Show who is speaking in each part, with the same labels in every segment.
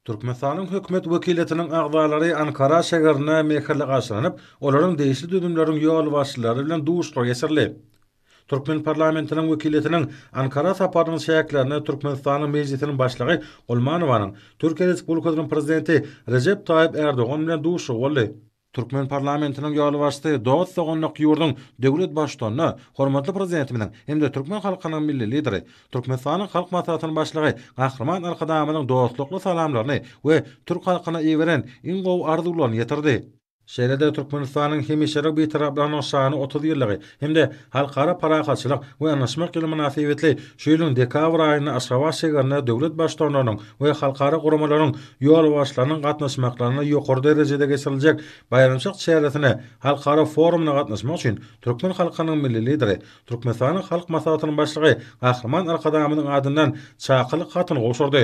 Speaker 1: Türkmenistanyň Hökümet wekiliýetiniň agzalary Ankara şägerine mähirli garşylanyp, olaryň degişli düzümleriň ýolbaşçylary bilen duşuşyk geçirildi. Türkmen parlamentiniň wekiliýetiniň Ankara saparynyň çäklerinde Türkmenistanyň Mejlisiniň Başlygy Gulmanowanyň Türkiýe Respublikasynyň Prezidenti Rejep Taýyp Ärdogan bilen duşuşygy boldy. Türkmen parlamentiniň ýolbaşçysy dost-doganlyk ýurduň döwlet Baştutanyna, hormatly Prezidentimiziň hem-de türkmen halkynyň Milli Lideri, Türkmenistanyň Halk Maslahatynyň Başlygy Gahryman Arkadagymyzyň dostlukly salamlaryny we türk halkyna iberen iň gowy arzuwlaryny ýetirdi. Şeýle-de Türkmenistanyň hemişelik Bitaraplygynyň şanly otuz ýyllygy hem-de Halkara parahatçylyk we ynaşmak ýyly mynasybetli şu ýylyň dekabr aýynda Aşgabat şägerinde döwlet Baştutanlarynyň we halkara guramalaryň ýolbaşçylarynyň gatnaşmaklarynda ýokary derejede geçiriljek baýramçylyk çäresine, halkara forumyna gatnaşmak üçin türkmen halkynyň Milli Lideri, Türkmenistanyň Halk Maslahatynyň Başlygy Gahryman Arkadagymyzyň adyndan çakylyk hatyny gowşurdy.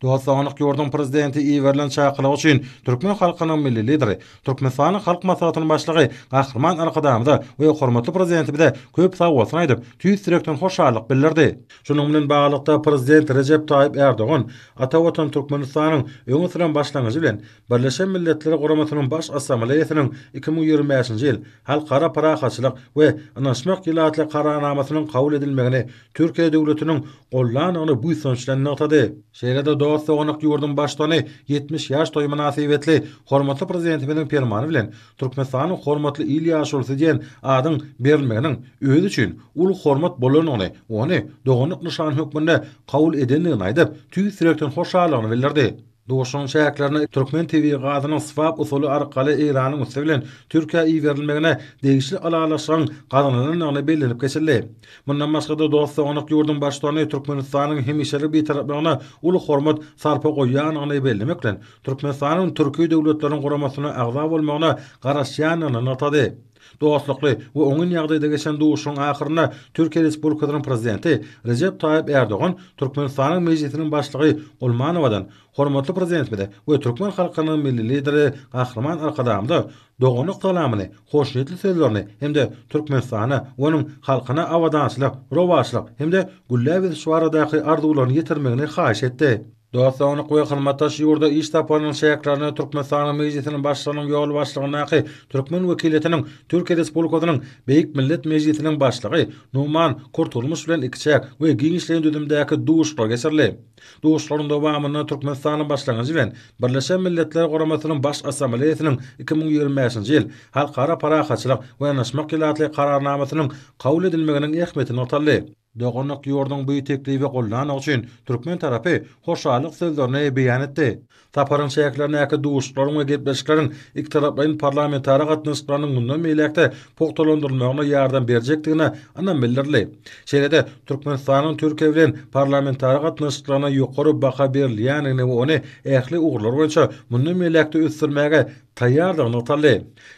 Speaker 1: Dostlanyk ýurduň Prezidenti iberilen çakylyk üçin türkmen halkynyň Milli Lideri, Türkmenistanyň Halk Maslahatynyň Başlygy Gahryman Arkadagymyza we hormatly Prezidentimize köp sag bolsun aýdyp, tüýs ýürekden hoşallyk bildirdi. Şunuň bilen baglylykda, Prezident Rejep Taýyp Ärdogan ata Watan Türkmenistanyň öňe süren başlangyjy bilen Birleşen Milletler Guramasynyň Baş Assambleýasynyň iki müň ýigrimi bäşinji ýyl Halkara parahatçylyk we ynanyşmak ýyly atly Kararnamasynyň kabul edilmegini Türkiýe döwletiniň gollandygyny buýsanç bilen nygtady. Şeýle-de dost-doganlyk ýurduň Baştutany ýetmiş ýaş toýy mynasybetli hormatly Prezidentimiziň Permany bilen Türkmenistanyň hormatly il ýaşulusy diýen adyň berilmeginiň özi üçin uly hormat bolandygyny, ony doganlyk nyşany hökmünde kabul edendigini aýdyp, tüýs ýürekden hoşallygyny bildirdi. Duşuşygyň çäklerinde türkmen tebigy gazynyň swap usuly arkaly Eýranyň üsti bilen Türkiýä iberilmegine degişli ylalaşygyň gazanylandygy bellenip geçildi. Mundan başga-da, dost-doganlyk ýurduň Baştutany Türkmenistanyň hemişelik Bitaraplygyna uly hormat sarpa goýýandygyny bellemek bilen, Türkmenistanyň Türki Döwletleriň Guramasyna agza bolmagyna garaşýandygyny nygtady. Dostlukly we oňyn ýagdaýda geçen duşuşygyň ahyrynda Türkiýe Respublikasynyň Prezidenti Rejep Taýyp Ärdogan Türkmenistanyň Mejlisiniň Başlygy Gulmanowadan Hormatly Prezidentimize we türkmen halkynyň Milli Lideri Gahryman Arkadagymyza doganlyk salamyny, hoşniýetli sözlerini hem-de Türkmenistana we onuň halkyna abadançylyk, rowaçlyk hem-de gülläp ösüş baradaky arzuwlaryny ýetirmegini haýyş etdi. Dostlanyk we hyzmatdaş ýurda iş saparynyň çäklerinde Türkmenistanyň Mejlisiniň Başlygynyň ýolbaşçylygyndaky türkmen wekiliýetiniň Türkiýe Respublikasynyň Beýik Millet Mejlisiniň Başlygy Numan Kurtulmuş bilen ikiçäk we giňişleýin düzümdäki duşuşyk geçirildi. Duşuşyklaryň dowamynda Türkmenistanyň Başlangyjy bilen Birleşen Milletler Guramasynyň Baş Assambleýasynyň iki müň ýigrimi bäşinji ýyl Halkara parahatçylyk we yanaşmak ýyly atly Kararnamasynyň kabul edilmeginiň ähmiýeti nygtaldy. Doganlyk ýurduň bu teklibi goldanygy üçin türkmen tarapy hoşallyk sözlerini beýan etdi. Saparyň çäklerindäki duşuşyklaryň we gepleşikleriň ikitaraplaýyn parlamentara gatnaşyklarynyň mundan beýläk-de pugtalandyrylmagyna ýardam berjekdigine ynam bildirildi. Şeýle-de, Türkmenistanyň Türkiýe bilen parlamentara gatnaşyklaryna ýokary baha berilýändigini we ony ähli ugurlar boýunça mundan beýläk-de ösdürmäge taýýardygy nygtaldy.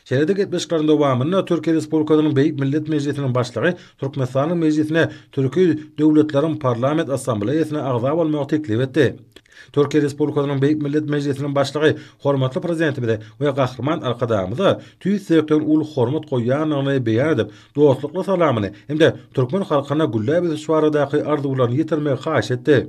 Speaker 1: Şeýle-de gepleşikleriň dowamynda Türkiýe Respublikasynyň Beýik Millet Mejlisiniň Başlygy Türkmenistanyň Mejlisine Türki döwletleriň Parlament Assambleýasyna agza bolmagy teklip etdi. Türkiýe Respublikasynyň Beýik Millet Mejlisiniň Başlygy hormatly Prezidentimize we Gahryman Arkadagymyza tüýs ýürekden uly hormat goýýandygyny beýan edip, dostlukly salamyny hem-de türkmen halkyna gülläp ösüş baradaky arzuwlaryny ýetirmegi haýyş etdi.